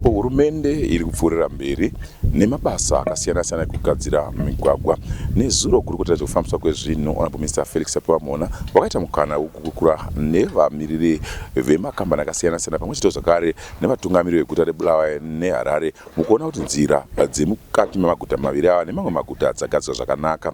Hurumende iri kupfuurira mberi nemabasa akasiyana siyana ekugadzira migwagwa. Nezuro gurukota rezvekufambiswa kwezvinhu Honorable Mr Felix Chapewamona wakaita mukana wekukurukura nevamiriri vemakambani akasiyana siyana pamwe chete zvakare nevatungamiri veguta reBulawayo neHarare mukuona kuti nzira dzemukati memaguta maviri ava nemamwe maguta dzagadzirwa zvakanaka.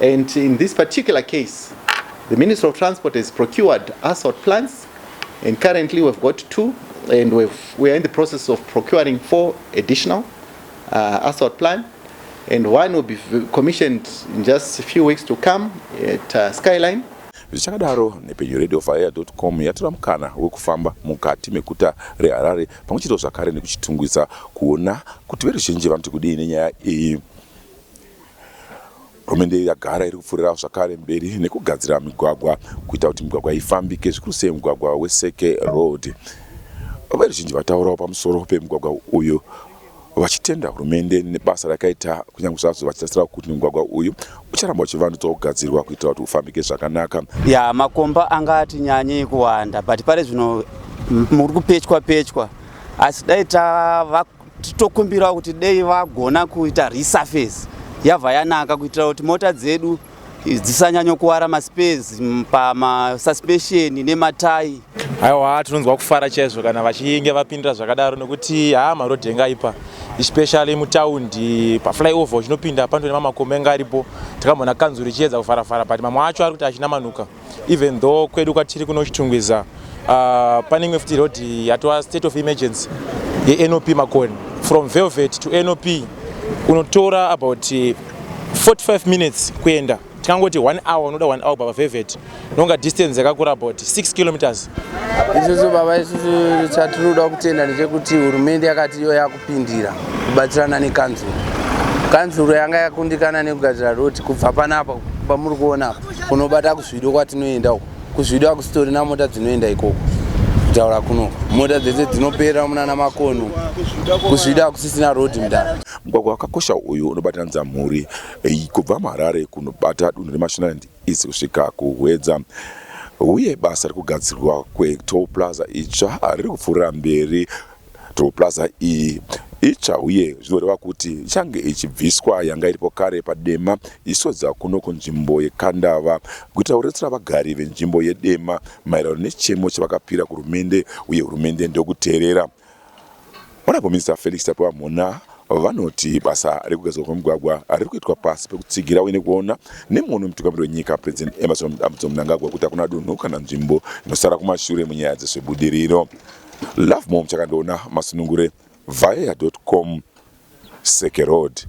And in this particular case, the Minister of Transport has procured assault plans and currently we've got two and we've, we are in the process of procuring four additional uh, assault plan and one will be commissioned in just a few weeks to come at uh, Skyline zvichakadaro nepedyo radio fire com yatora mukana wekufamba mukati meguta reharare pamwe chete zvakare nekuchitungwisa kuona kuti veruzhinji vanoti kudii nenyaya iyi Hurumende yagara iri kupfuurirawo zvakare mberi nekugadzira migwagwa kuita kuti migwagwa ifambike zvikuru sei mugwagwa weSeke Road. Veruzhinji vataurawo pamusoro pemugwagwa uyu vachitenda hurumende nebasa rakaita kunyange zvazvo vachitarisirawo kuti mugwagwa uyu ucharamba uchivandudzwa kugadzirwa kuitira kuti ufambike zvakanaka. Ya makomba anga ati nyanyei kuwanda but pari zvino muri kupechwa pechwa asi dai tava Titokumbirawo kuti dei vagona kuita resurface yabva yanaka kuitira kuti mota dzedu dzisanyanyokuwara maspes pamasuspension nematai aiwa tinonzwa kufara chaizvo kana vachinge vapindira zvakadaro nekuti haa marodhi enge aipa especially mutaundi paflyover uchinopinda pando nemamakomba enge aripo takamboona kanzuru ichiedza kufarafara but mamwe acho ari kuti achina manuka even though kwedu kwatiri kuno chitungwiza uh, pane imwe futi road yatova state of emergency yenop makoni from velvet to nop unotora about 45 minutes kuenda tikangoti one hour unoda one hour baba velvet nonga distance yakakura about 6 kilometers isusu baba isusu chatiri kuda kutenda ndechekuti hurumende yakati iyo yaku pindira kubatsirana nekanzuru kanzuru yanga yakundikana nekugadzira roti kubva panapa pamuri kuona kunobata kuzvido kwatinoenda uko kuzvido akusitorina mota dzinoenda ikoko kutaura kuno mota dzese dzinoperera munana makono kuzvida akusisina road mdara mugwagwa wakakosha uyu unobatanidza mhuri eh, kubva muharare kunobata dunhu remashonaland isi kusvika kuhwedza uye basa rekugadzirwa kwetoll plaza itsva riri kupfuurira mberi Toll plaza iyi itsva uye zvinoreva kuti ichange ichibviswa yanga iripo kare paDema ichitodza kuno kunzvimbo yeKandava kuitira kuretsera vagari venzvimbo yeDema maererano nechemo chavakapira kuhurumende uye hurumende ndokuteerera. Honorable Minister Felix Tapiwa Mhona vanoti basa rekugadzirwa kwemigwagwa riri kuitwa pasi pekutsigira uye nekuona nemuono wemutungamiri wenyika President Emmerson Dambudzo Mnangagwa kuti hakuna dunhu kana nzvimbo inosara kumashure munyaya dzezvebudiriro. Love mom chakandoona masunungure vhaeya.com Seke Road.